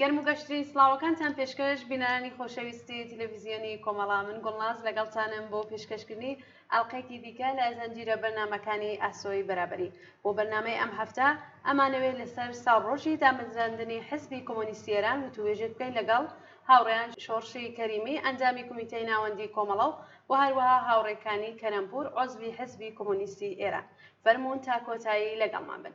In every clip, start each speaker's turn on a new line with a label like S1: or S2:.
S1: گەرم و گەشترین سڵاوەکانتان پێشکەش بینەرانی خۆشەویستی تلویزیۆنی کۆمەڵا من گوڵناز لەگەڵتانم بۆ پێشکەشکردنی ئەڵقێکی دیکە لە زەنجیرە بەرنامەکانی ئاسۆی بەرابەری بۆ بەرنامەی ئەم هەفتە ئەمانەوێت لەسەر ساڵ ڕۆژی دامەزراندنی حزبی کۆمۆنیستی ئێران وتووێژێک بکەین لەگەڵ هاوڕێیان شۆڕشی کەریمی ئەندامی کومیتەی ناوەندی کۆمەڵە و وە هەروەها هاوڕێ کانی کەرەمپوور عوزوی حزبی کۆمۆنیستی ئێران فەرموون تا کۆتایی لەگەڵمان بن.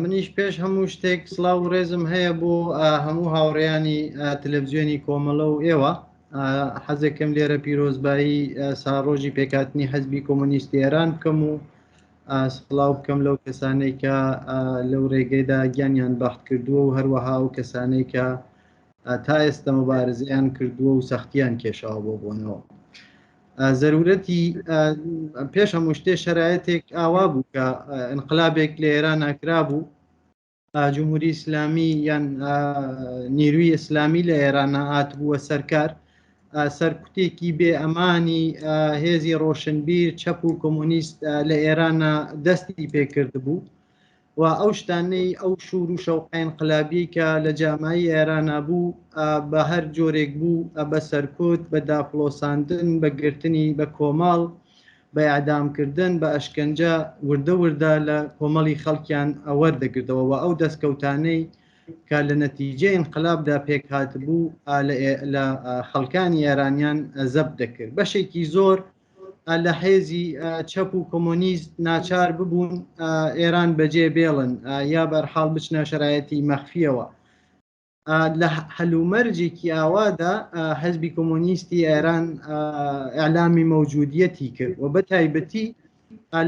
S2: منیش پێش هەموو شتێک سلااو و ڕێزم هەیە بۆ هەموو هاوڕێیانی تەلەڤزیۆنی کۆمەڵە و ئێوە حەزێکم لێرە پیرۆزبایی ساڕۆژی پێکاتنی حەزبی کۆمۆنیستی ئێران بکەم و سلااو بکەم لەو کەسانەی کە لەو ڕێگەیدا گیانیان بەخت کردووە و هەروەها و کەسانەی کە تا ئێستا مبارزیان کردووە و سەختیان کێشاوە بۆ بوونەوە. زەرورەتی پێش هەموو شتێ شەرایەتێک ئاوا بوو کە انقلابێک لە ئێران ناکرا بوو جمهوری ئیسلامی یان نیروی ئیسلامی لە ئێران هات بووە سەرکار سەرکوتێکی بێ ئەمانی هێزی ڕۆشنبیر چەپ و کۆمۆنیست لە ئێرانە دەستی پێکرد بوو و ئەو شتانەی ئەو شور و شەوقە ئینقلابیەی کە لە جامایی ئێرانا بوو بە هەر جۆرێک بوو بە سەرکوت بە داپڵۆساندن بە گرتنی بە کۆمەڵ بە ئیعدامکردن بە ئەشکەنجە وردە وردە لە کۆمەڵی خەڵکیان وەردەگرتەوە و ئەو دەستکەوتانەی کە لە نەتیجە ئینقلابدا پێک هاتبوو لە خەڵکانی ئێرانیان زەب دەکرد بەشێکی زۆر لە حێزی چەپ و کۆمۆنیست ناچار ببوون ئێران بەجێ بێڵن یا بەرحاڵ بچنە شەرایەتی مەخفیەوە لە هەلومەرجێکی ئاوادا حەزبی کۆمۆنیستی ئێران ئەلامی مەوجودیەتی کرد و بە تایبەتی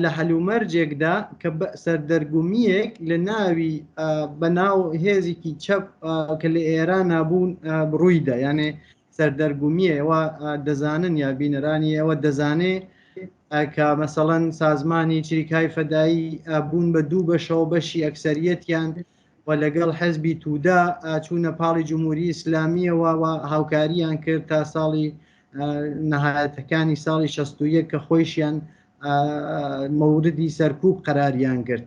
S2: لە هەلومەرجێکدا کە سەردەرگومیەک لە ناوی بەناو هێزێکی چەپ کە لە ئێران نابوون بڕوویدا یانێ سەردەرگومیە ئێوە دەزانن یا بینەرانی ئێوە دەزانێ کە مەسەڵەن سازمانی چریکای فەدایی بوون بە دوو بەشەوە بەشی ئەکسەریەتیان و لەگەڵ حەزبی تودا چوونە پاڵی جمهوری ئیسلامیەوە و هاوکاریان کرد تا ساڵی نەهایەتەکانی ساڵی 16 کە خۆیشیان مەوردی سەرکوب قەراریان گرت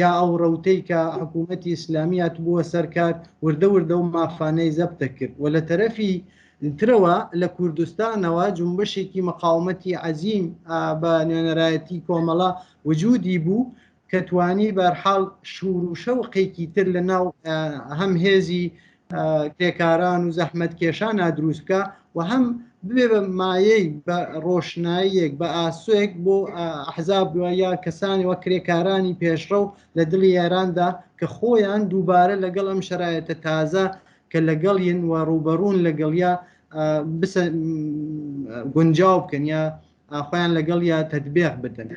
S2: یا ئەو ڕەوتەی کە حکوومەتی ئیسلامی هاتبووە سەرکار وردە وردە و مافانەی زەبتە کرد و لە تەرەفی ترەوە لە کوردستانەوە جنبشێکی مەقاومەتی عەزیم بە نوێنەرایەتی کۆمەڵە وجودی بوو کە توانی بەرحاڵ شور و شەوقێکی تر لە ناو هەم هێزی کرێکاران و زەحمەت کێشان نادروست بکە و هەم بێ بە مایەی بە ڕۆشناییەک بە ئاسوێک بۆ حەزاب یا کەسانی وە کرێکارانی پێشڕەو لە دڵی یاراندا کە خۆیان دووبارە لەگەڵ ئەم شەرایەتە تازە کە لەگەڵ یەن و ڕوبەڕون لەگەڵیا گونجاو بکەن یا خۆیان لەگەڵ یا تەدبێخ بدەن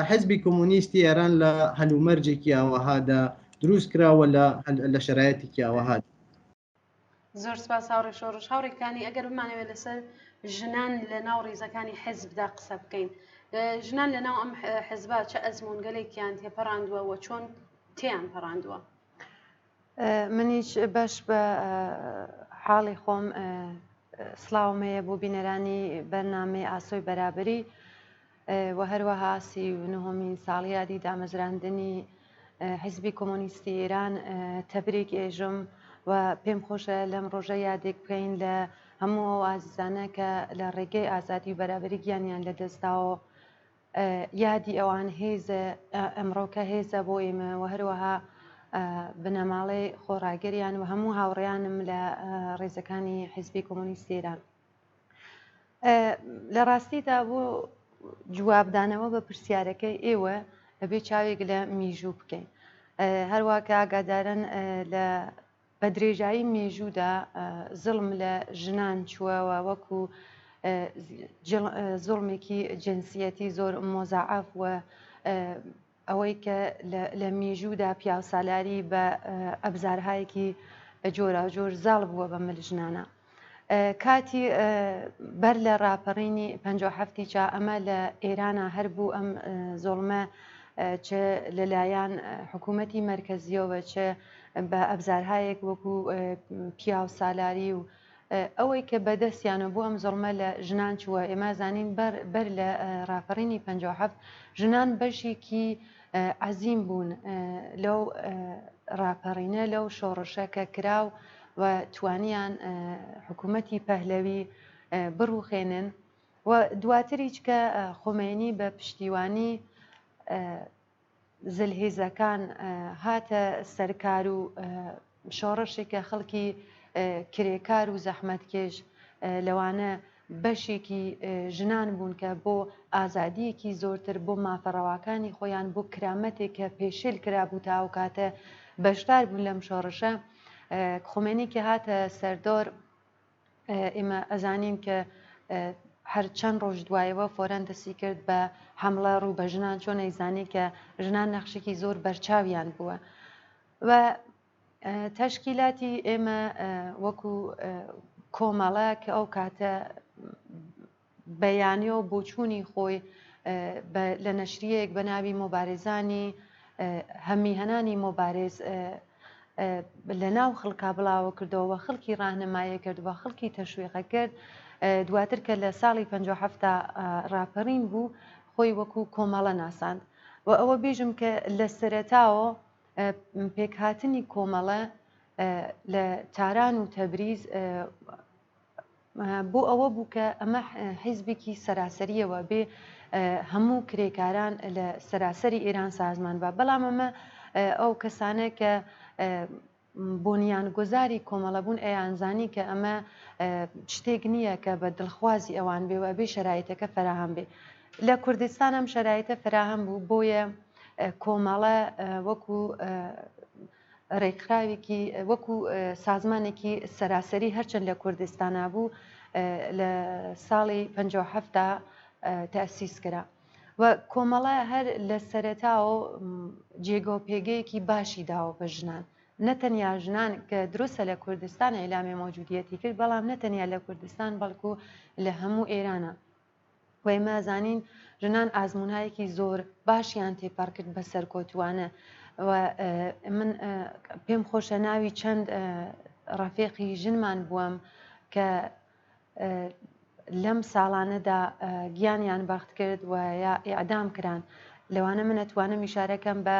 S2: حزبی کۆمۆنیستی ئێران لە هەلومەرجێکی ئاوەهادا دروست کراوە لە لە شەرایەتێکی ئاوەهات
S1: زۆر سپاس هاوڕێ شۆڕش هاوڕێکانی ئەگەر بمانەوێت لەسەر ژنان لە ناو ڕیزەکانی حزبدا قسە بکەین ژنان لە ناو ئەم حزبا چە ئەزمونگەلێکیان تێپەڕاندووە و چۆن تیان پەڕاندووە
S3: منیش بەش بە حاڵی خۆم سڵاوم هەیە بۆ بینەرانی بەرنامەی ئاسۆی بەرابری و هەروەها سی و نهۆمین ساڵیادی دامەزراندنی حزبی کۆمۆنیستی ئێران تەبریک ئێژم و پێم خۆشە لەم ڕۆژە یادێک بکەین لە هەموو ئەو ئازیزانە کە لە ڕێگەی ئازادی و بەرابری گیانیان لە دەستداوە یادی ئەوان هێزە، ئەمڕۆکە هێزە بۆ ئێمە و هەروەها بنەماڵەی خۆڕاگریان و هەموو هاوڕێیانم لە ڕێزەکانی حیزبی کۆمۆنیستی ئێران. لە ڕاستیدا بۆ جوابدانەوە بە پرسیارەکەی ئێوە ئەبێ چاوێک لە میژوو بکەین. هەروەکە ئاگادارن لە بە درێژایی مێژوودا زوڵم لە ژنان چووە و وەکوو زوڵمێکی جنسیەتی زۆر مۆزەعەف و ئەوەی کە لە میژوودا پیاوسالاری بە ئەبزارهایەکی جۆراوجۆر زاڵ بووە بە مل ژنانە. کاتی بەر لە ڕاپەڕینی پەنجا و حەفتی چا ئەمە لە ئێرانا هەر بوو ئەم زۆڵمە چ لەلایەن حکوومەتی مەرکەزیەوە چ بە ئەبزارهایەک وەکو پیاو سالاری و ئەوەی کە بەدەستیانە بۆ ئەم زڵمە لە ژنان چووە ئێمە زانین بەر لە ڕاپەڕینی پنج هەفت ژنان بەشێکی عەزیم بوون لەو ڕاپەڕینە لەو شۆڕشە کە کرا و و توانیان حکوومەتی پەهلەوی بڕوخێنن و دواتریچ کە خۆمێنی بە پشتیوانی زلهێزەکان هاتە سەرکار و شۆڕشێکە خەڵکی کرێکار و زەحمەتکێش لەوانە بەشێکی ژنان بوون کە بۆ ئازادییەکی زۆرتر، بۆ مافە ڕەواکانی خۆیان، بۆ کرامەتێک کە پێشێل کرابوو تا ئەو کاتە بەشدار بوون لەم شۆڕشە. خومێنی کە هاتە سەردۆر ئێمە ئەزانین کە هەر چەند ڕۆژ دوایەوە فۆرەن دەسی کرد بە حملە ڕوو بە ژنان چۆن ئەیزانی کە ژنان نەخشێکی زۆر بەرچاویان بووە. و تەشکیلاتی ئێمە وەکو کۆمەڵە کە ئەو کاتە بەیانە و بۆچوونی خۆی لە نەشریەک بە ناوی مۆبارێزانی هەمیهنانی مۆبارێز لە ناو خەڵکا بڵاوە کردەوە خەڵکی ڕاهنمایە کرد و خەڵکی تەشویقە کرد دواتر کە لە ساڵی 1970 ڕاپەڕین بوو خۆی وەکو کۆمەڵە ناساند و ئەوە بیژم کە لە سەرەتاوە پێکهاتنی کۆمەڵە لە تاران و تەبریز بۆ ئەوە بوو کە ئەمە حیزبێکی سەراسەریەوە بێ هەموو کرێکاران لە سەراسەری ئێران سازمان بە بەڵام ئەمە ئەو کەسانە کە بۆنیان گۆزاری کۆمەڵەبوون ئەیانزانی کە ئەمە شتێک نییە کە بە دڵخوازی ئەوان بێ و ئەبێ شەرایتەکە فراهام بێ لە کوردستان ئەم شەرایتە فراهام بوو بۆیە کۆمەڵە وەکو رێکخراوێکی وەکو سازمانێکی سەراسەری هەرچەند لە کوردستانا بوو لە ساڵی پ هەفتا تاسیس کرا و کۆمەڵە هەر لە سەرەتاوە جێگە و پێگەیەکی باشی داوە بە ژنان نەتەنیا ژنان کە دروستە لە کوردستان ئیلامی مۆجودیەتی کرد بەڵام نەتەنیا لە کوردستان بەڵکو لە هەموو ئێرانە وئێمە زانین ژنان ئازمونایەکی زۆر باشیان تێپەڕکرد بە سەرکۆتوانە و من پێم خۆشە ناوی چەند ڕەفێقی ژنمان بووم کە لەم ساڵانەدا گیانیان بەخت کرد و یا ئیعدام کران لەوانە منەتوانم میشارەکەم بە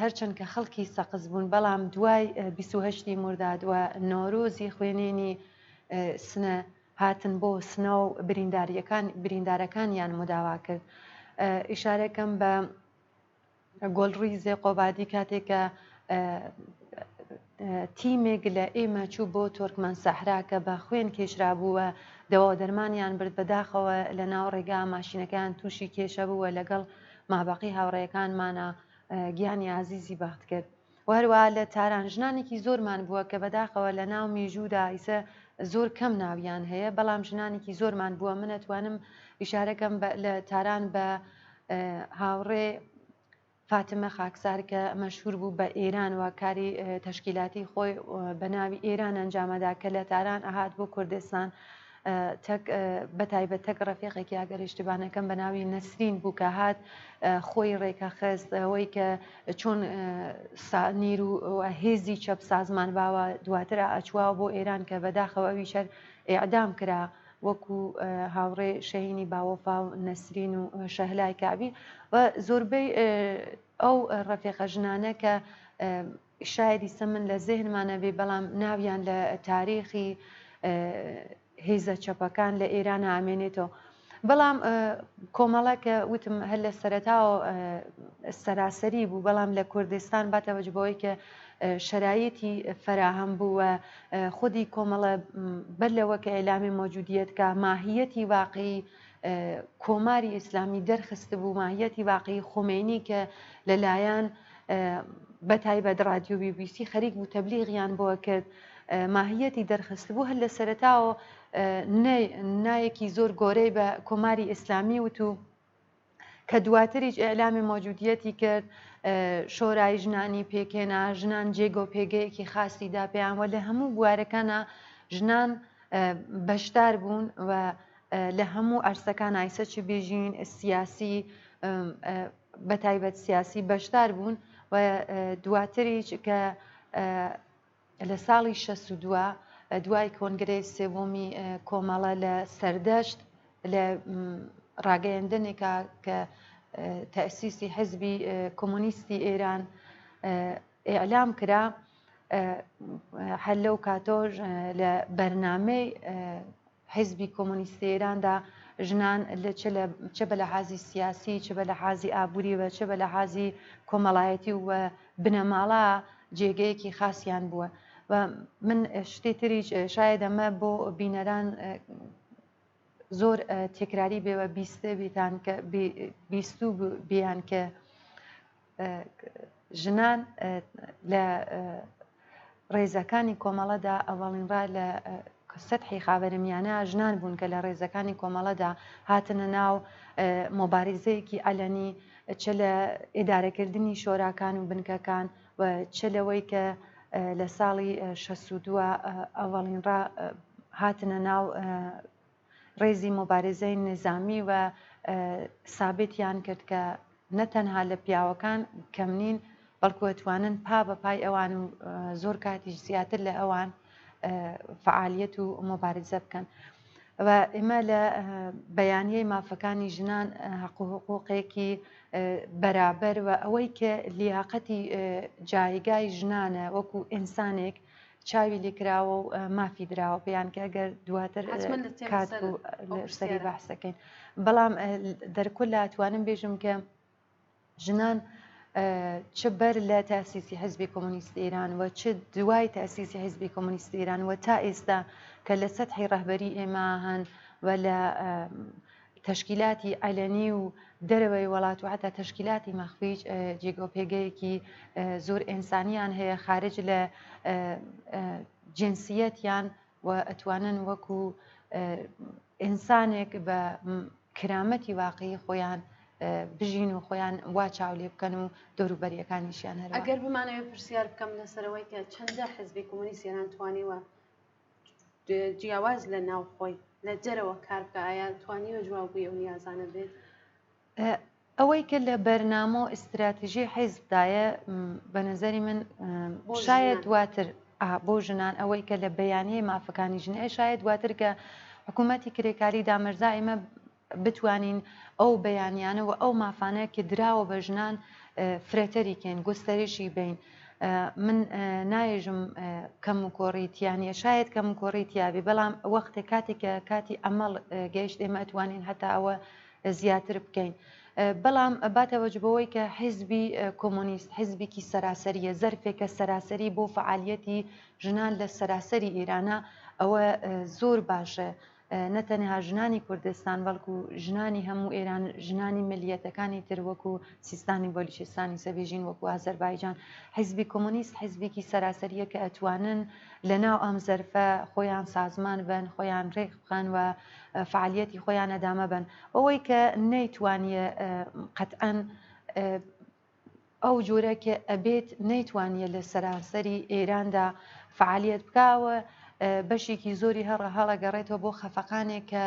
S3: هەرچەند کە خەڵکی سەقز بوون، بەڵام دوای بیست و هەشت ی مورداد و نەورۆزی خوێنێنی سنە، هاتن بۆ سنە و بریندارەکانیان مداوا کرد. ئیشارەکەم بە گۆلڕیزێ قۆبادی کاتێک کە تیمێک لە ئێمە چوو بۆ تۆرکمان سەحرا کە بە خوێن کێشرابوو و دەواودەرمانیان برد، بەداخەوە لەناو ڕێگا ماشینەکەیان تووشی کێشە بوو و لەگەڵ مابەقی هاوڕێیەکانمانا گیانی ئازیزی بەخت کرد و هەروەها لە تاران ژنانێکی زۆرمان بووە کە بەداخەوە لە ناو میژوودا ئیسە زۆر کەم ناویان هەیە بەڵام ژنانێکی زۆرمان بووە منەتوانم ئیشارەکەم لە تاران بە هاوڕێ فاتمە خاکسار کە مەشهوور بوو بە ئێران و کاری تەشکیلاتی خۆی بە ناوی ئێران ئەنجامەدا کە لە تاران ئەهات بۆ کوردستان تەک بە تایبەت تەک ڕەفیقێکی ئەگەر ئیشتبا نەکەم بە ناوی نەسرین بوو کە هات خۆی ڕێکە خست ئەوەی کە چۆن سانیر و هێزی چەپ سازمان باوە دواتر ئەچواوە بۆ ئێران کە بەداخەوە ئەوی شەر ئێعدام کرا وەکو هاوڕێ شەهینی باوەفا و نەسرین و شەهلای کەعبی و زۆربەی ئەو ڕەفێقە ژنانە کە شاید ئیسە من لە زێهنمان نەبێ بەڵام ناویان لە تاریخی هێزە چەپەکان لە ئێران ئامێنێتەوە بەڵام کۆمەڵە کە وتم هەر لە سەرەتاوە سەراسەری بوو بەڵام لە کوردستان باتەوەجبەوەی کە شەرایەتی فەراهەم بووە خودی کۆمەڵە بەر لەوە کە ئیلامی مەوجودیەت کا ماهیەتی واقعی کۆماری ئیسلامی دەرخستبوو ماهیەتی واقعی خۆمێنی کە لەلایەن بە تایبەت رادیو بی بی سی خەریک بوو تەبلیغیان بۆ کرد ماهیەتی دەرخستبوو هەر لە سەرتاوە نایەکی زۆر گۆرەی بە کۆماری ئیسلامی وت و کە دواتریش ئیعلامی مۆجودیەتی کرد شۆرای ژنانی پێکێنا ژنان جێگۆ پێگەیەکی خاصی دا پێیان وە لە هەموو بوارەکانە ژنان بەشدار بوون و لە هەموو ئەرسەکان ئایسە چ بێژین سیاسی بە تایبەت سیاسی بەشدار بوون و دواتریش کە لە ساڵی شەست و دوو دوای کۆنگرەی سێوەمی کۆمەڵە لە سەردەشت لە ڕاگەیەندنێکا کە تەسیسی حزبی کۆمۆنیستی ئێران ئیعلام کرا هەر لەو کاتۆش لە بەرنامەی حیزبی کۆمۆنیستی ئێراندا ژنان چ بە لەحازی سیاسی چ بە لەحازی ئابووری و چ بە لەحازی کۆمەڵایەتی و بنەماڵە جێگەیەکی خاسیان بووە و من شتی تریش شاید ئەمە بۆ بینەران زۆر تێکراری بێوە بیستبیتان کە بیستوو بیان کە ژنان لە ڕێزەکانی کۆمەڵەدا ئەوڵین ڕا لە سەحی خاوەرمیانە ژنان بوون کە لە ڕێزەکانی کۆمەڵەدا هاتنە ناو مۆبارزەیەکی ئەلەنی چ لە ئێدارەکردنی شۆراکان و بنکەکان و چ لەوەی کە لە ساڵی 62 ئەوڵین ڕا هاتنە ناو ڕێزی موبارزەی نیزامی و سابتیان کرد کە نە تەنها لە پیاوەکان کەم نین بەڵکو ئەتوانن پا بە پای ئەوان و زۆر کاتیش زیاتر لە ئەوان فعالیت و موبارزە بکەن. و ئێمە لە بەیانیەی مافەکانی ژنان حەق و حقوقێکی بەرابەر و ئەوەی کە لیاقەتی جایگای ژنانە وەکو ئینسانێک چاوی لێ کراوە و مافی دراوە پێیان کە گەر دواتر حتمما لە تێمە کات سەر و ئەو لە سەری پرسیارە. بەحسەکەین بەڵام اه، دەرکل لە توانم بێژم کە ژنان اه، چ بەر لە تاسیسی حزبی کۆمۆنیست ئێران و چ دوای تاسیسی حزبی کۆمۆنیست ئێران و تا ئێستا کە لە سەتحی ڕەهبەری ئێمە هەن و لە اه، تەشکیلاتی عەلەنی و دەرەوەی وەڵات و حەتا تەشکیلاتی مەخفیش جێگە و پێگەیەکی زۆر ئێنسانیان هەیە خارج لە جنسیەتیان و ئەتوانن وەکو ئینسانێک بە کرامەتی واقعی خۆیان بژین و خۆیان وا چاو لێ بکەن و دەوروبەریەکانیشیان هەر ئەگەر بمانەوە پرسیار
S1: بکەم لەسەرەوەی کە چەندە حزبی کۆمەنیسیێران توانیوە جیاواز لە ناوخۆی لە جەرەوە کار بکە ئایا توانیوە جواب بووی ئەو نیازانە بێت؟
S3: ئەوەی کە لە بەرنامە و ئیستراتیژی حیزبدایە بە نظری من شاید دواتر بۆ ژنان ئەوەی کە لە بەیانەی مافەکانی ژنێ شاید دواتر کە حکوومەتی کرێکاری دامەرزا ئێمە بتوانین ئەو بەیانیانە و ئەو مافانە کە دراوە بە ژنان فرەتەری کەین گوستەریشی بەین من نایژم کەم و کۆڕی تیانە شاید کەم و کۆڕی تیاابی بەڵام وەختێک کاتێک کە کاتی ئەمەڵ گەیشت ئێمە ئەتوانین هەتا ئەوە زیاتر بکەین بەڵام باتەوەج بەوەی کە حیزبی کۆمۆنیست حیزبێکی سەراسەریە زەرفێکە سەراسەری بۆ فعالیەتی ژنان لە سەراسەری ئێرانە ئەوە زۆر باشە نە تەنها ژنانی کوردستان بەڵکو ژنانی هەموو ئێران ژنانی ملیەتەکانی تر وەکو سیستانی بەلوچستانی سەبێژین وەکو ئازەربایجان حیزبی کۆمۆنیست حیزبێکی سەراسەریە کە ئەتوانن لە ناو ئەم زەرفە خۆیان سازمان بن خۆیان رێک بخەن و فعالیەتی خۆیان ئەدامە بن ئەوەی کە نەیتوانیە قەتئەن ئەو جۆرە کە ئەبێت نەیتوانیە لە سەرانسەری ئێراندا فەعالیەت بکا و بەشێکی زۆری هەڕە هەڵەگەڕێتەوە بۆ خەفەقانێک کە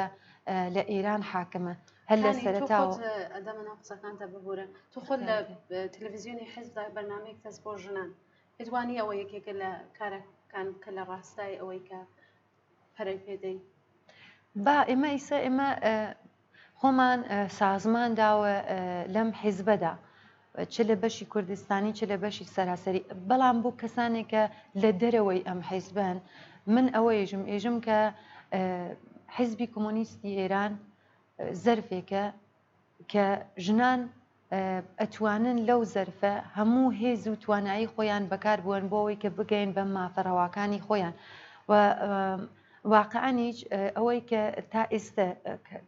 S3: لە ئێران حاکمە هەر لە سەرتاوە ئەدەمەنا قسەکانتە
S1: ببورە تو خۆ لە تەلەڤزیۆنی حزدا بەرنمەیەک تەس بۆ ژنان هێدوانی ئەوە یەکێکە لە کارەکان کە لە ڕاستای ئەوەی کە پەرەی پێ دەین. با
S3: ئێمە ئیسە ئێمە خۆمان سازمان داوە لەم حیزبەدا چ لە بەشی کوردستانی چ لە بەشی سەراسەری بەڵام بۆ کەسانێکە لە دەرەوەی ئەم حیزبن من ئەوە یژم ئێژم کە حیزبی کۆمۆنیستی ئێران زەرفێکە کە ژنان ئەتوانن لەو زەرفە هەموو هێز و توانایی خۆیان بەکار بوەن بۆ ئەوەی کە بگەین بە مافە ڕەواکانی خۆیان و واقعانیش ئەوەی کە تا ئێستە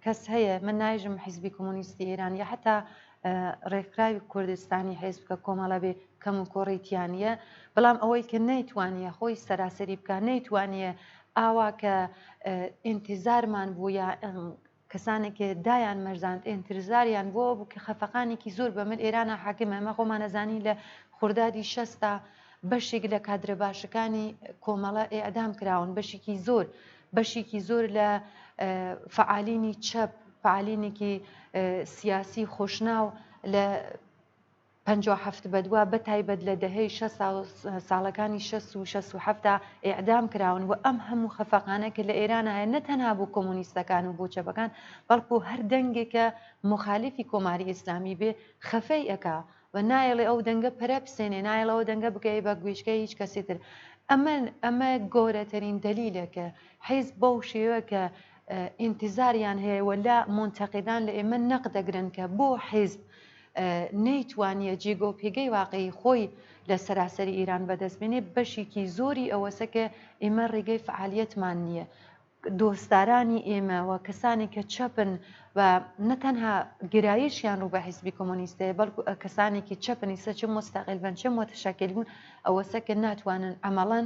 S3: کەس هەیە من نایژم حیزبی کۆمۆنیستی ئێران یا حتا ڕێکخراوی کوردستانی حێزبکە کۆمەڵە بێ کەم و کۆڕیتیانە بەڵام ئەوەی کە نەیتوانە خۆی سەراسەری بکە نەیتوانە ئاوا کە ئینتیزارمان بوو یا کەسانێک دایان مەرزاند ئێنترزاریان بۆ ئەوەبوو کە خەفەقانێکی زۆر بە مل ئێرانا حاکمە ئێمە خۆمان ئەزانین لە خوردادی شەستا بەشێک لە کادرە باشەکانی کۆمەڵە ئێعدام کراون بەشێکی زۆر بەشێکی زۆر لە فعالینی چەپ فعالینێکی سیاسی خۆشناو لە پەنجا و حەفت بەدوا بەتایبەت لە دەهەی شەست و ساڵەکانی شەست و شەست و حەفتدا ئێعدام کراون و ئەم هەموو خەفەقانە کە لە ئێران هەیە نە تەنها بۆ کۆمۆنیستەکان و بۆ چەپەکان بەڵکوو هەر دەنگێک کە موخالیفی کۆماری ئیسلامی بێ خەفەی ئەکا و نایەڵێ ئەو دەنگە پەرە بسێنێ نایەڵێ ئەو دەنگە بکەوێ بە گوێچکەی هیچ کەسی تر ئەمە ئەمە گەورەترین دەلیلە کە حیزب بەو شێوە کە ئینتیزاریان هەیە و لە مونتەقیدان لە ئێمە نەق دەگرن کە بۆ حیزب نەیتوانیە جیگە و پیگەی واقعی خۆی لە سەراسەری ئیران بەدەست بێنێ بەشیکی زۆری ئەوەسە کە ئیمە ریگەی فعالیەتمان نیە دۆستدارانی ئێمە و کەسانی کە چەپن و نەتەنها گرایشیان ڕوو بە حیزبی کۆمۆنیستەیە بەڵکو کەسانێکی چەپنی سەچ مستەقل بن چ متشکل بوون ئەوەسە کە ناتوانن ئەمەڵەن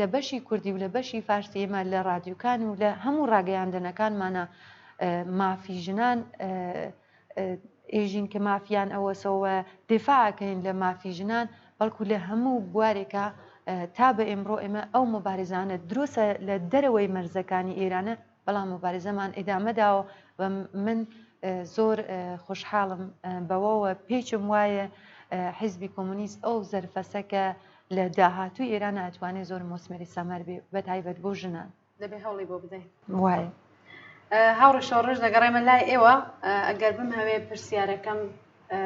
S3: لە بەشی کوردی و لە بەشی فارسی ئێمە لە رادیوکان و لە هەموو ڕاگەیاندنەکانمانە مافی ژنان ئێژین کە مافیان ئەوەسەوە دفاعکەین لە مافی ژنان بەڵکو لە هەموو بوارێکە تا بە ئێمڕۆ ئێمە ئەو مبارزانە درۆسە لە دەرەوەی مەرزەکانی ئێرانە بەڵام موبارزەمان ئیدامەداوە و من زۆر خۆشحاڵم بەوەوە پێیچم وایە حیزبی کۆمۆنیست ئەو زەرفەسە کە لە داهاتوو ئێران ئەتوانێت زۆر مۆسمەری سەمەر بێ بە تایبەت بۆ ژنان دەبێ هەوڵی بۆ بدەین
S1: وایە.
S3: هاوڕی
S1: شۆڕش دەگەڕێمە لای ئێوە ئەگەر بم هەوێ پرسیارەکەم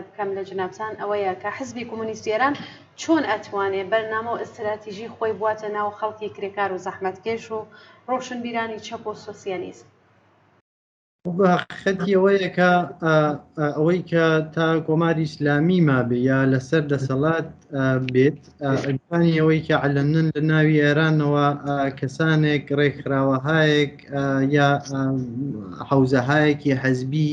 S1: بکەم لە جەنابتان ئەوەیە کە حزبی کۆمۆنیستی ئێران چۆن ئەتوانێ بەرنامە و ئستراتیژی خۆی بواتە ناو خەڵکی کرێکار و زەحمەتکێش و ڕۆشنبیرانی چەپ و سۆسیالیست؟
S2: خەتی ئەوەیە کە ئەوەی کە تا کۆماری ئیسلامی مابێ یا لەسەر دەسەڵات بێت ئەگوانی ئەوەی کە علەنن لە ناوی ئێرانەوە کەسانێک ڕێکخراوەهایەک یا حوزەهایەکی حەزبی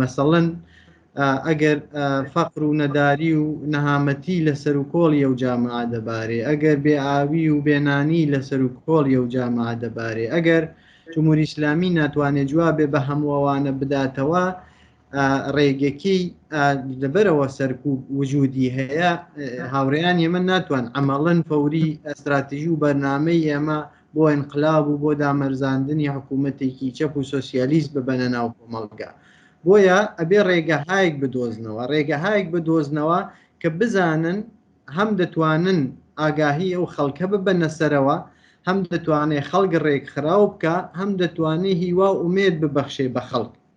S2: مەسەڵەن ئەگەر فەقر و نەداری و نەهامەتی لە سەر و کۆڵ یە و جامعە دەبارێ ئەگەر بێ ئاوی و بێنانی لە سەر و کۆڵ یە و جامعە دەبارێ ئەگەر جمهوری ئیسلامی ناتوانێت جوابێ بە هەمووەوانە بداتەوە ڕێگەکەی لەبەرەوە سەرکوب وجودی هەیە هاوڕێیان ئێمە ناتوان ئەمەڵەن فەوری ئەستراتیژی و بەرنمەی ئێمە بۆ ئینقلاب و بۆ دامەرزاندنی حکوومەتێکی چەپ و سۆسیالیست ببەنە ناو کۆمەڵگا. بۆیە ئەبێ ڕێگەهایەک بدۆزنەوە، ڕێگەهایەک بدۆزنەوە کە بزانن هەم دەتوانن ئاگاهی ئەو خەڵکە ببەنە سەرەوە، هەم دەتوانێ خەڵک ڕێکخراو بکا، هەم دەتوانێ هیوا و ئومێد ببەخشێ بە خەڵک.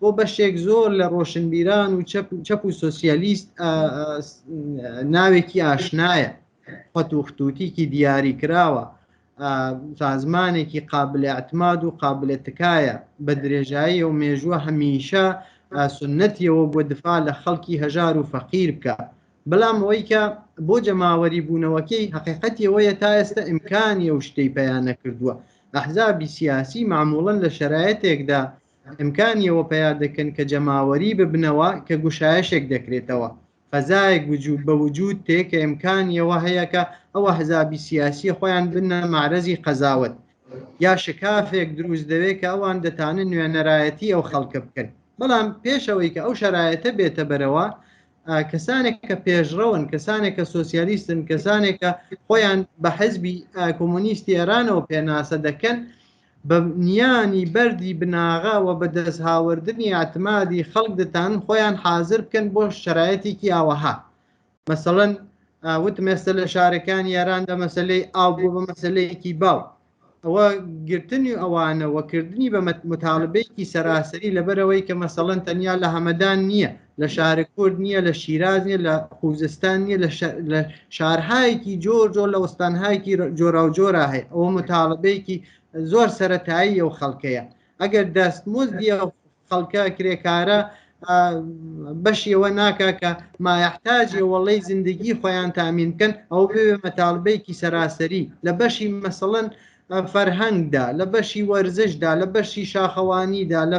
S2: بۆ بەشێک زۆر لە ڕۆشنبیران و چەپ و سوسیالیست ناوێکی ئاشنایە خەت و خطوتیکی دیاری کراوە سازمانێکی قابلە ئەتماد و قابلە تکایە بە درێژایی و مێژووە هەمیشە سنەتیەوە بۆ دفاع لە خەڵکی هەژار و فەقیر بکە بەڵام ئەوەی کە بۆ جەماوەری بوونەوەکەی حقیقەتیەوەیە تا ئێستا ئیمکانی ئەو شتەی پەیانە کردووە ئەحزابی سیاسی معموڵن لە شرایەتێکدا ئیمکانی ئەوە پەیا دەکەن کە جەماوەری ببنەوە کە گوشایشێک دەکرێتەوە فەزایەک وجود بە وجود تێ کە ئیمکانی ئەوە هەیە کە ئەو ئەحزابی سیاسیە خۆیان بنە مەعرەزی قەزاوەت یا شکافێک دروست دەوێت کە ئەوان دەتانن نوێنەرایەتی ئەو خەڵکە بکەن بەڵام پێشەوەی کە ئەو شەرایەتە بێتە بەرەوە کەسانێک کە پێشڕەون کەسانێک کە سوسیالیستن کەسانێک کە خۆیان بە حزبی کۆمۆنیستی ئێرانەوە پێناسە دەکەن بە نیانی بەردی بناغە و بە دەست هاوردنی ئەعتمادی خەڵک دەتانن خۆیان حازر بکەن بۆ شەرایەتێکی ئاوەها مەسەڵەن وتم ئێستا لە شارەکانی یاران لە مەسلەی ئاو بۆ بە مەسلەیەکی باو ئەوە گرتنی ئەوانەوە کردنی بە متالبێکی سەراسەری لەبەرەوەی کە مەسەڵەن تەنیا لە هەمەدان نییە لە شار کورد نییە لە شیراز نیە لە خوزستان نیە لە شارهایەکی جۆر جۆر لە وەستانهایەکی جۆرا و جۆرا هەیە ئەوە متاالبەیەکی زۆر سەتایی ئەو خەڵکەیە ئەگەر دەست مزدی خەڵکە کرێکارە بەشی ئەوە ناکە کە مایحتاجی وەڵی زیندگی خۆیان تامین بکەن ئەو بێ مەتالبەیەکی سەراسەری لە بەشی مەسەڵەن فەرهەنگدا لە بەشی وەرزشدا لە بەشی شاخەوانیدا لە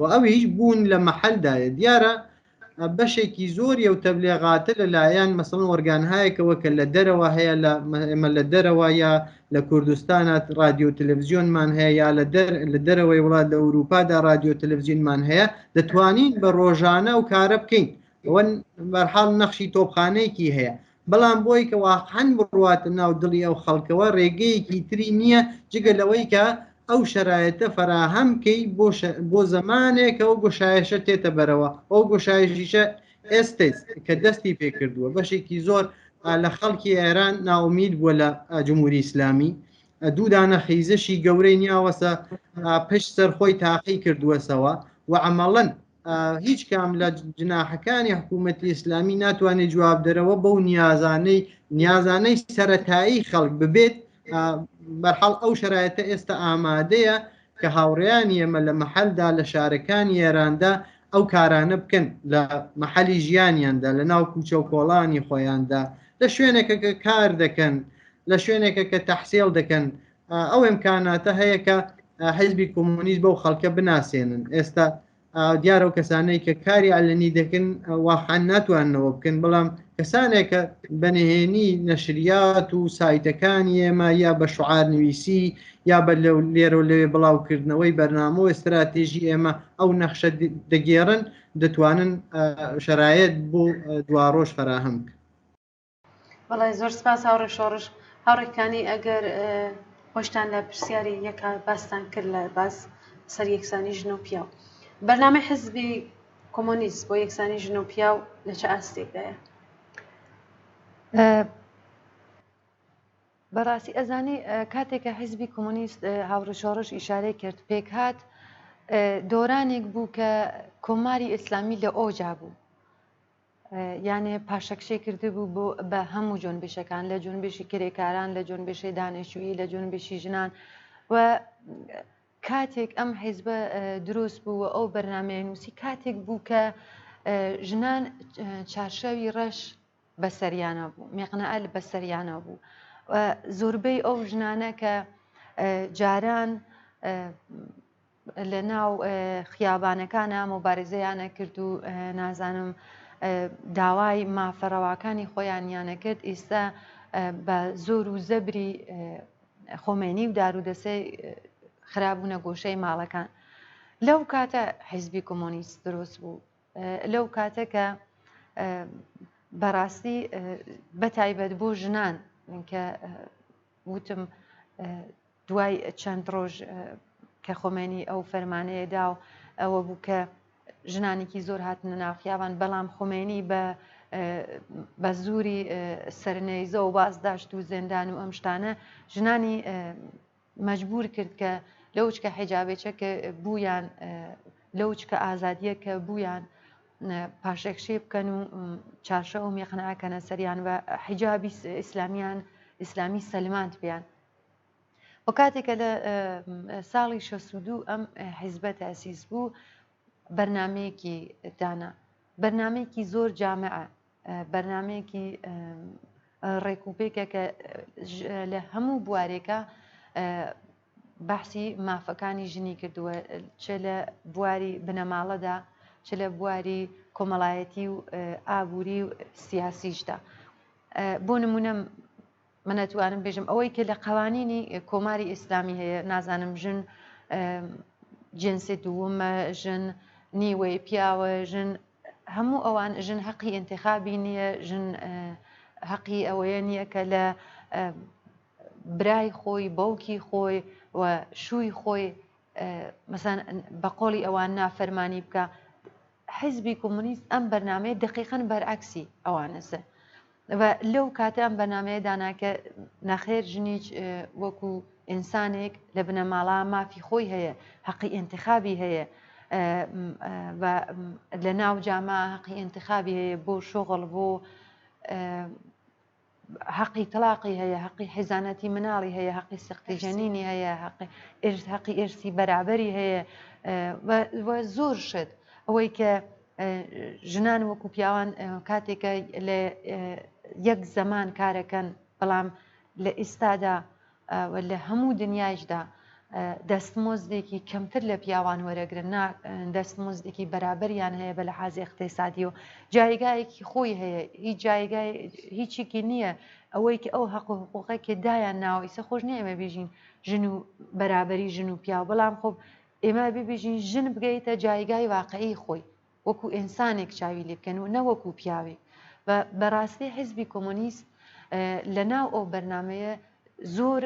S2: و ئەویش بوون لە مەحەلدایە دیارە بەشێکی زۆری و تەبلێغاتە لەلایەن مەسەڵەن وەرگانهایەکەوە کە لە دەرەوە هەیە لە ئێمە لە دەرەوە یا لە کوردستانە رادیو و تەلەڤزیۆنمان هەیە یا لە دەر لە دەرەوەی وڵات لە ئەوروپادا رادیو و تەلەڤزیینمان هەیە دەتوانین بە ڕۆژانە و کارە بکەین ئەوەن بەرحاڵ نەخشی تۆپخانەیەکی هەیە بەڵام بۆی کە واقعەن بڕواتە ناو دڵی ئەو خەڵکەوە ڕێگەیەکی تری نییە جگە لەوەی کە ئەو شەرایەتە فەراهەم کەی بۆ زەمانێکە و گوشایشە تێتە بەرەوە ئەو گوشایشیشە ئێستێت کە دەستی پێکردووە بەشێکی زۆر لە خەڵکی ئێران ناومید بووە لە جمهوری ئیسلامی دوودانە خیزشی گەورەی نیاوەسە پشت سەرخۆی تاقی کردووەسەوە و ئەمەڵەن هیچ کام لە جناحەکانی حکوومەتی ئیسلامی ناتوانێت جواب دەرەوە بەو نیازانەی نیازانەی سەتایی خەڵک ببێت بەرحاڵ ئەو شرایەتە ئێستا ئامادەیە کە هاوڕیان ئێمە لە محلدا لە شارەکانی ئێراندا ئەو کارانە بکەن لە محلی ژیانیاندا لە ناو کوچە و کۆڵانی خۆیاندا لە شوێنێکە کە کار دەکەن لە شوێنێکە کە تەحسێڵ دەکەن ئەو ئەمکاناتە هەیە کە حیزبی کۆمۆنیست بەو خەڵکە بناسێنن ئێستا دیارە و کەسانەی کە کاری ئەلنی دەکەن واحان ناتوانەوە بکەن بەڵام کەسانێک کە بەنهێنی نەشریات و سایتەکانی ئێمە یا بە شعار نوویسی یا بە لەو لێرە لەوێ بڵاوکردنەوەی بەرنامە و استراتێژی ئێمە ئەو نەخشە دەگێڕن دەتوانن شرایەت بۆ دواڕۆژ فراهەم بکەن
S1: بەڵێ زۆر سپاس هاوڕێ شۆڕش هاوڕێکانی ئەگەر خۆشتان لە پرسیاری یەکە باستان کرد لە باس سەر یەکسانی ژن و پیاو بەرنامە حزبی کۆمۆنیست بۆ یەکسانی ژن و پیاو لە چ ئاستێکدایە
S3: بەڕاستی ئەزانی کاتێکە حزبی کۆمۆنیست هاوڕە شۆڕش ئیشارەی کرد پێک هاات دۆرانێک بوو کە کۆماری ئیسلامی لە ئۆجا بوو یانێ پاشەکشەی کردبوو بۆ بە هەموو جۆنبیشەکان لە جۆنبیشی کرێکاران لە جۆنبیشەی دانیشتووی لە جۆنبیشی ژنان و کاتێک ئەم حیزبە دروست بوو و ئەو بەرنمەیە نووسی کاتێک بوو کە ژنان چارشاوی ڕەش بەسەریانە بوو مێقنەئەل بەسەریانە بوو زۆربەی ئەو ژنانە کە جاران لە ناو خیابانەکانا مۆبارزەیانە کرد و نازانم داوای مافە ڕەواکانی خۆیانیانە کرد ئیستا بە زۆر و زەبری خۆمێنی و دارو دەسەی خرابوونە گۆشەی ماڵەکان لەو کاتە حیزبی کۆمۆنیست دروست بوو لەو کاتە کە بەڕاستی بەتایبەت بۆ ژنان کە وتم دوای چەند ڕۆژ کە خۆمێنی ئەو فەرمانەیە دا و ئەوە بوو کە ژنانێکی زۆر هاتنە ناو خیابان بەڵام خۆمێنی بە بە زووری سەرنەیزە و باز داشت و زێندان و ئەم شتانە ژنانی مەجبور کرد کە لەو چکە حیجابێچە کە بوویان لەو چکە ئازادیە کە بوویان پاشەکشێ بکەن و چارشە و میخنەکەنە سەریان بە حیجابی ئیسلامیان ئیسلامی سەلماند بیان و کاتێک کە لە ساڵی شەست و دوو ئەم حیزبە تاسیس بوو بەرنمەیەکی دانا بەرنمەیەکی زۆر جامع بەرنمەیەکی ڕێکوپێکە کە لە هەموو بوارێکە بەحسی مافەکانی ژنی کردووە چ لە بواری بنەماڵەدا چ لە بواری کۆمەڵایەتی و ئابووری و سیاسیشدا بۆ نمونە من ئەتوانم بێژم ئەوەی کە لە قەوانینی کۆماری ئیسلامی هەیە نازانم ژن جنسی دوومە ژن نیوەی پیاوە ژن هەموو ئەوان ژن هەقی ئینتخابی نییە ژن هەقی ئەوەیە نییە کە لە برای خۆی باوکی خۆی و شووی خۆی مەسەن بە قۆڵی ئەوان نافەرمانی بکە حیزبی کۆمۆنیست ئەم بەرنامەیە دەقیقەن بەرعەکسی ئەوانەسە و لەو کاتە ئەم بەنامەیە داناکە نەخێر ژنیج وەکو ئینسانێک لە بنەماڵا مافی خۆی هەیە حەقی ئینتخابی هەیە لە ناو جاما حەقی ئینتخابی هەیە بۆ شۆغڵ بۆ هەقی تەڵاقی هەیە، هەقی حیزانەتی مناڵی هەیە، هەقی سەقتی جەنینی هەیە، هەقی ئێرز هەقی ئێرسی بەرابەری هەیە و زۆر شت ئەوەی کە ژنان وەکو پیاوان کاتێکە لە یەک زەمان کارەکەن بەڵام لە ئیستادا و لە هەموو دنیایشدا دەستمۆزدێکی کەمتر لە پیاوان وەرەگرن نا دەستمۆزدێکی بەرابەریان هەیە بە لە حازی اقتسادی و جایگایەکی خۆی هەیە هیچ جایگای هیچیکی نییە ئەوەی کە ئەو حەق و حقوقێکی دایان ناوە ئیسە خۆش نیە ئێمە بژین ژن و بەرابەری ژن و پیاو بەڵام خۆب ئێمە ببیژین ژن بگەیتە جایگای واقعی خۆی وەکو ئینسانێک چاوی لێ بکەن و نەوەکو پیاوێک و بەڕاستی حیزبی کۆمۆنیست لە ناو ئەو بەرنمەیە زۆر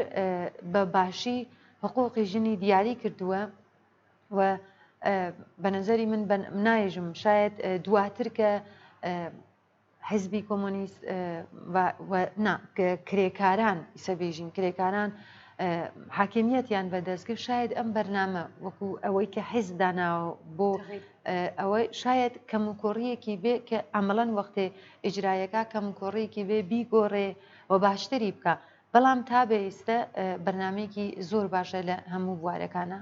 S3: بە باشی حقوقی ژنی دیاری کردووە و بە نظری من نایژم شاید دواتر کە حیزبی کۆمۆنیست و نا کرێکاران ئیسە بێژین کرێکاران حاکمیەتیان بەدەستگر شاید ئەم بەرنامە وەکو ئەوەی کە حیز داناوە بۆ ئەوە شاید کەم و کۆڕیەکی بێ کە ئەمەڵەن وەختێ ئیجرایەکە کەم و کۆڕێکی بێ بیگۆڕێ و باشتری بکە بەڵام تا بە ئێستە بەرنمێکی زۆر باشە لە هەموو بوارەکانە.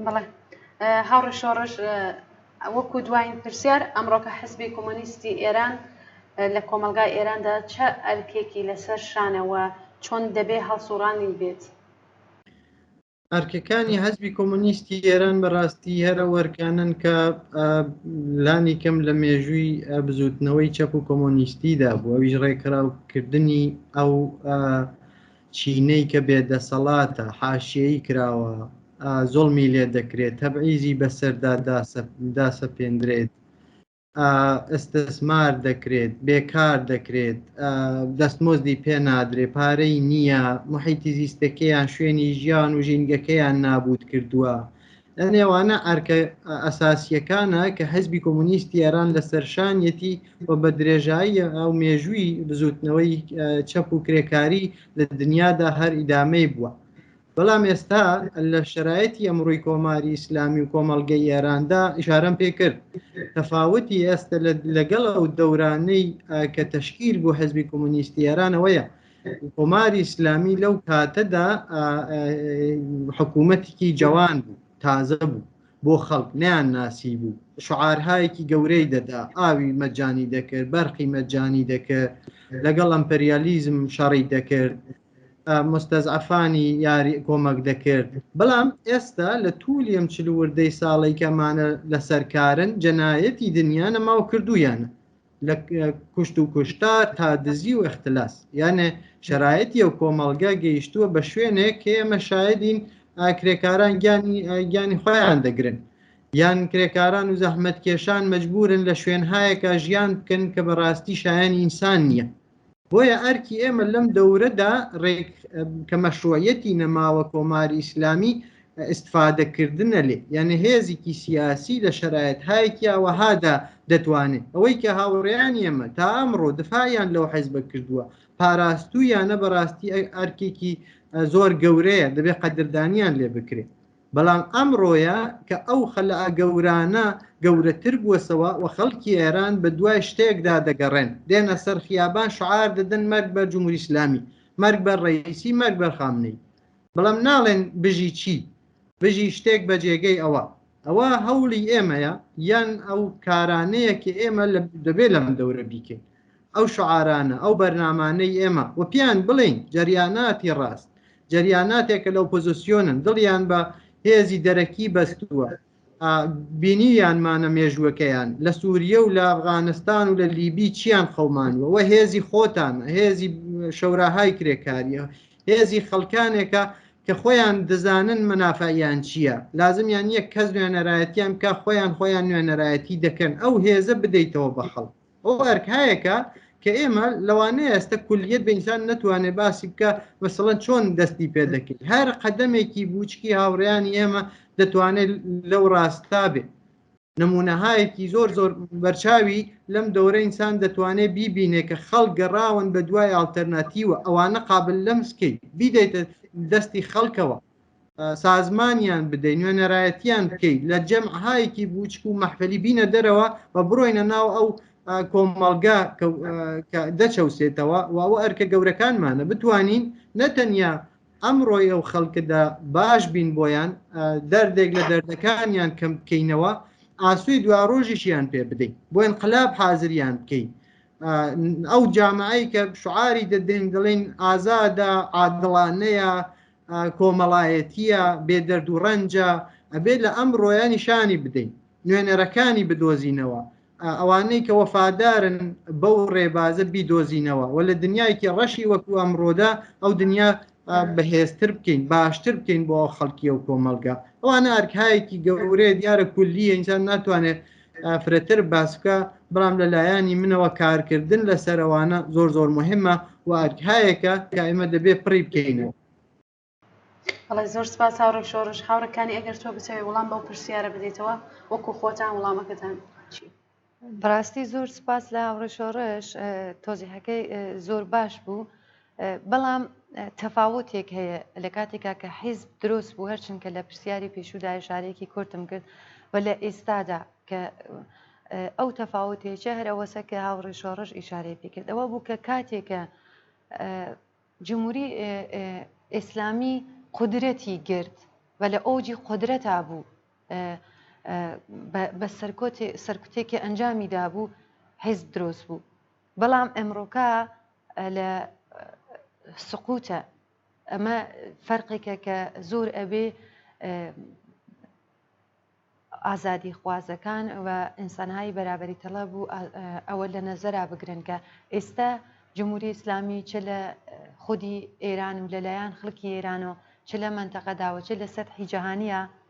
S3: بەڵێ
S1: هاوڕێ شۆڕش وەکو دوایین پرسیار ئەمڕۆکە حزبی کۆمۆنیستی ئێران لە کۆمەلگای ئێراندا چ ئەرکێکی لەسەر شانەوە چۆن دەبێ هەڵسوڕانی بێت؟ ئەرکەکانی
S2: حزبی کۆمۆنیستی ئێران بەڕاستی هەرە وەرکانن کە لانی کەم لە مێژووی بزوتنەوەی چەپ و کۆمۆنیستیدا بووە ویژ ڕێکخراوکردنی ئەو چینەی کە بێ دەسەڵاتە، حاشیەیی کراوە، زوڵمی لێ دەکرێت، تەبعیزی بەسەردا داسەپێندرێت، ئستسمار دەکرێت، بێکار دەکرێت، دەستمۆزدی پێ نادرێ، پارەی نییە، محیتی زیستەکەیان شوێنی ژیان و ژینگەکەیان نابووت کردووە، لە نێوانە ئەرکە ئەساسیەکانە کە حزبی کۆمونیستی ئێران لە سەرشانیەتی و بە درێژایی ئەو مێژووی بزوتنەوەی چەپ و کرێکاری لە دنیادا هەر ئیدامەی بووە بەڵام ئێستا لە شرایەتی ئەمڕووی کۆماری ئیسلامی و کۆمەلگە ئێراندا ئشارەم پێ کرد تەفاوتی ئێستا لەگەڵ ئەو دەورانەی کە تەشکیل بۆ حزبی کۆمونیستی ئێرانەوەیە کۆماری ئیسلامی لەو کاتەدا حکوومەتێکی جوان بوو تازە بوو بۆ خەڵک نیان ناسی بوو شعارهایەکی گەورەی دەدا ئاوی مەجانی دەکرد بەرقی مەجانی دەکرد لەگەڵ ئەمپریالیزم شەڕی دەکرد مستەزعفانی یاری کۆمەک دەکرد بەڵام ئێستا لە تولی ئەم چلوردەی ساڵی کەمانە لەسەرکارن جەنایەتی دنیاە ماو کردویانە لە کوشت و کوشتار تا دزی و اختلاس یانێ شرایەتی و کۆمەڵگە گەیشتووە بە شوێنێک کە ئێمە شاهدین کرێکاران گیانی گیانی خۆیان دەگرن یان کرێکاران و زەحمەت کێشان مەجبورن لە شوێنهایەکە ژیان بکەن کە بەڕاستی شایانی ئینسان نییە بۆیە ئەرکی ئێمە لەم دەورەدا ڕێک کە مەشروعەتی نەماوە کۆماری ئیسلامی ئستفادەکردنە لێ یعنی هێزیکی سیاسی لە شرایەت هایکیاوەهادا دەتوانێت ئەوەی کە هاوڕێیان ئێمە تا ئەمڕۆ دفاعیان لەو حیزبە کردووە پاراستویانە بەڕاستی ئەرکێکی زۆر گەورەیە دەبێت قەدردانیان لێ بکرێت بەڵام ئەمڕۆیە کە ئەو خەلئ گەورانە گەورەتر بووەسەوە و خەڵکی ئێران بە دوای شتێکدا دەگەڕێن، دێنە سەر خیابان شعار دەدەن مەرگ بەر جمهوری ئیسلامی، مەرگ بەر ڕەئیسی، مەرگ بەر خامنەیی. بەڵام ناڵێن بژی چی؟ بژی شتێک بە جێگەی ئەوە. ئەوە هەوڵی ئێمەیە یان ئەو کارانەیە کە ئێمە دەبێ لەم دەورە بیکەین. ئەو شعارانە، ئەو بەرنامانەی ئێمە و پێیان بڵێین جەریاناتی ڕاست، جەریاناتێک کە لە ئۆپۆزسیۆنن دڵیان بە هێزی دەرەکی بەستووە بینیویانمانە مێژووەکەیان لە سووریە و لە ئەفغانستان و لە لیبی چیان خەومانوە و هێزی خۆتان هێزی شەوراهای کرێکاریە هێزی خەڵکانێکە کە خۆیان دەزانن منافعیان چییە لازمیان یەک کەس نوێنەرایەتیان کا خۆیان خۆیان نوێنەرایەتی دەکەن ئەو هێزە بدەیتەوە بە خەڵک ئەو ئەرکایەکە کە ئێمە لەوانەیە ئێستا کولیت بە ئینسان نتوانێت باسی بکە مەسەڵەن چۆن دەستی پێ دەکەیت هەر قەدەمێکی بچکی هاوڕیانی ئێمە دەتوانێت لەو ڕاستا بێت نمونەهایەکی زۆر زۆر بەرچاوی لەم دەورە ئینسان دەتوانێت بیبینێ کە خەڵک گەڕاون بە دوای ئالتەرناتیوە ئەوانە قابل لەم سکەیت بیدەیتە دەستی خەڵکەوە سازمانیان بدەین نوێنەرایەتیان بکەیت لە جەمعهایەکی بچک و مەحفلی بینە دەرەوە و بڕۆینە ناو ئەو کۆمەڵگا دەچەوسێتەوە و ئەو ئەرکە گەورەکانمانە بتوانین نەتەنیا ئەمڕۆی ئەو خەڵکدا باش بین بۆیان دەردێک لە دەردەکانیان کەم بکەینەوە ئاسوی دوا ڕۆژیشیان پێ بدەین بۆیان قلاب حازریان بکەین ئەو جامعی کە شعاری دەدەین دەڵێن ئازادە عادڵانەیە کۆمەڵایەتیە بێ دەرد و ڕەنجە ئەبێت لە ئەمڕۆیە نیشانی بدەین نوێنەرەکانی بدۆزینەوە ئەوانەی کە وەفادارن بەو ڕێبازە بیدۆزینەوە و لە دنیایکی ڕەشی وەکو ئەمڕۆدا ئەو دنیا بەهێزتر بکەین باشتر بکەین بۆ خەڵکی و کۆمەلگا ئەوانە ئەرکایەکی گەورەیە دیارە کولیە ئینسان ناتوانێت فرەتر باسکە بەڵام لە لایەنی منەوە کارکردن لە سەرەوانە زۆر زۆر مهمە و ئەرکهایەکە کە ئێمە دەبێ پڕی بکەینەوە
S1: بەڵێ زۆر سپاس هاوڕێ شۆڕش هاوڕەکانی ئەگەر تۆ بچەوێ وڵام بەو پرسیارە بدەیتەوە وەکو خۆتان وڵامەکەتان چی بەڕاستی
S3: زۆر سپاس لە هاوڕێ شۆڕش تۆزیحەکەی زۆر باش بوو بەڵام تەفاوتێک هەیە لە کاتێکا کە حیزب درۆست بوو هەر چنکە لە پرسیاری پێشوودا ئشارەیەکی کورتم کرد و لە ئێستادا کە ئەو تەفاوتێکە هەر ئەوەسە کە هاوڕێ شۆڕش ئیشارەی پێکرد ئەوە بوو کە کاتێکە جمهوری ئیسلامی قدرەتی گرت و لە ئەوجی قدرەتا بوو بە سەرکوتێکی ئەنجامی دابوو حیزب درۆست بوو بەڵام ئەمڕۆکە لە سقوتە ئەمە فەرقێکە کە زۆر ئەبێ ئازادی خوازەکان و ئینسانهایی بەرابری تەڵە بوو ئەوە لە نەزەرا بگرن کە ئێستا جمهوری ئیسلامی چ لە خودی ئێران و لەلایەن خەڵکی ئێران و چ لە منتەقەداوە چ لە سەرحی جیهانیە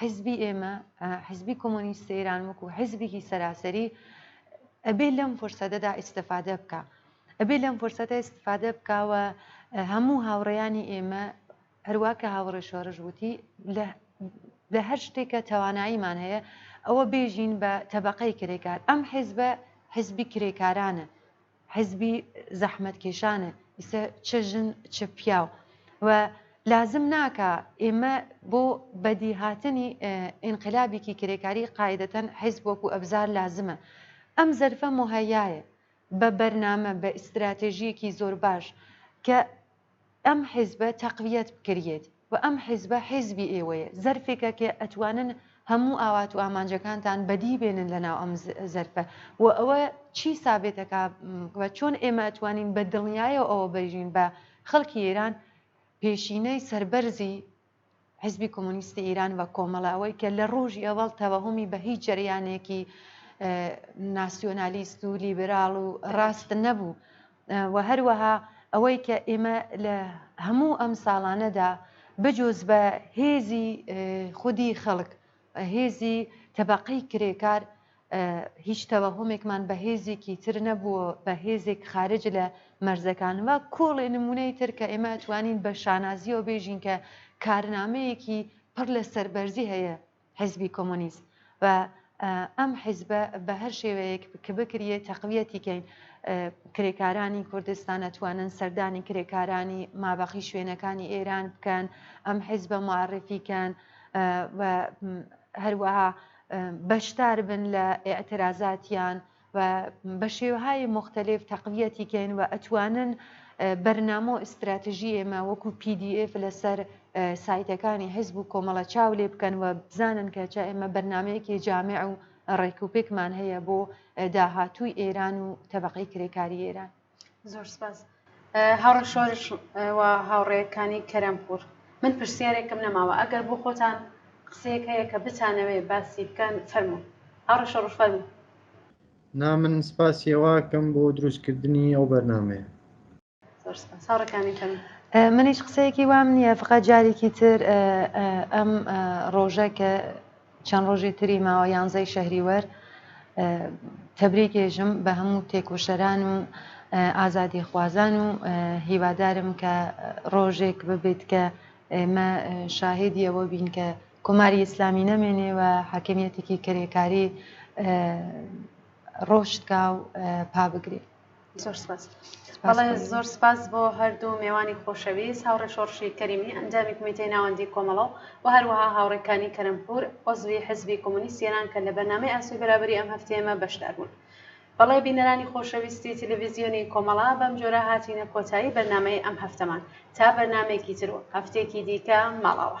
S3: حیزبی ئێمە، حیزبی کۆمۆنیستی ئێران وەکوو حیزبێکی سەراسەری ئەبێ لەم فرسەتەدا ئیستفادە بکا. ئەبێ لەم فرسەتە ئیستفادە بکا و هەموو هاوڕێیانی ئێمە هەروا کە هاوڕێ شۆڕش وتی لە هەر شتێک کە تواناییمان هەیە ئەوە بێژین بە تەبەقەی کرێکار. ئەم حیزبە حیزبی کرێکارانە. حیزبی زەحمەت کێشانە ئیسە چ ژن چ پیاو و لازم ناکا ئێمە بۆ بەدی هاتنی ئینقلابیکی کرێکاری قاعدەتەن حیزب وەکو ئەبزار لازمە ئەم زەرفە مهەیایە بە بەرنامە بە ئیستراتێژیەکی زۆر باش کە ئەم حیزبە تەقویەت بکریەت و ئەم حیزبە حیزبی ئێوەیە زەرفێکە کە ئەتوانن هەموو ئاوات و ئامانجەکانتان بەدی بێنن لە ناو ئەم زەرفە و ئەوە چی سابێت ئەکا و چۆن ئێمە ئەتوانین بە دڵنیایەوە ئەوە بژین بە خەڵکی ئێران پێشینەی سەربەرزی حیزبی کۆمۆنیستی ئیران و کۆمەڵە ئەوەی کە لە ڕۆژی ئەوەڵ تەوەهومی بە هیچ جەریانێکی ناسیۆنالیست و لیبراڵ و ڕاست نەبوو و هەروەها ئەوەی کە ئێمە لە هەموو ئەم ساڵانەدا بجۆز بە هێزی خودی خەڵک هێزی تەبقەی کرێکار هیچ تەوەهومێکمان بە هێزێکی تر نەبووە، بە هێزێک خارج لە مەرزەکان. وە کۆڵێ نموونەی تر کە ئێمە ئەتوانین بە شانازییەوە بێژین کە کارنامەیەکی پڕ لە سەربەرزی هەیە حیزبی کۆمۆنیست و ئەم حیزبە بە هەر شێوەیەک کە بکریێ تەقویەتی کەین. کرێکارانی کوردستان ئەتوانن سەردانی کرێکارانی مابەقی شوێنەکانی ئێران بکەن، ئەم حیزبە معرفی کەن و هەروەها بەشدار بن لە ئیعترازاتیان و بە شێوەهای مختلف تەقویەتی کەین و ئەتوانن بەرنامە و ئستراتژی ئێمە وەکو PDF لەسەر سایتەکانی حزب و کۆمەڵە چاو لێ بکەن و بزانن کە چا ئێمە بەرنمەیەکی جامع و ڕێکوپێکمان هەیە بۆ داهاتووی ئێران و تەبقی کرێکاری ئێران. زۆر سپاس
S1: هاوڕێ شۆرش و هاوڕێکانی کەرەمپور من پرسیارێکم نەماوە ئەگەر بۆ خۆتان قسەیەک هەیە کە بتانەوێ باسی بکەن فەرمو هاوڕێ شۆڕش فەرمو نا
S2: من سپاسی ئەوەکەم بۆ دروستکردنی ئەو بەرنمەیە زۆر
S1: سپاس هاوڕێکانی کەم من هیچ قسەیەکی
S3: وام نییە فقە جارێکی تر ئەم ڕۆژە کە چەند ڕۆژی تری ماوە یانزەی شەهریوەر تەبریکئێژم بە هەموو تێکۆشەران و ئازادیخوازان و هیوادارم کە ڕۆژێک ببێت کە ئێمە شاهێدی ئەوە بین کە کۆماری ئیسلامی نەمێنێ و حاکمیەتێکی کرێکاری ڕۆشت کا و پا بگرێ. زۆر سپاس
S1: بەڵێ زۆر سپاس بۆ هەردوو مێوانی خۆشەویست هاوڕێ شۆڕشی کەریمی ئەنجامی کومیتەی ناوەندی کۆمەڵە و و هەروەها هاوڕێکانی کەرەمپور عزوی حزبی کۆمۆنیست ئێران کە لە بەرنامەی ئاسۆی بەرابری ئەم هەفتەیەمە بەشدار بوون بەڵێ بینەرانی خۆشەویستی تلویزیۆنی کۆمەڵە بەم جۆرە هاتینە کۆتایی بەرنامەی ئەم هەفتەمان تا بەرنامەیەکی تر و هەفتێکی دیکە ماڵاوە.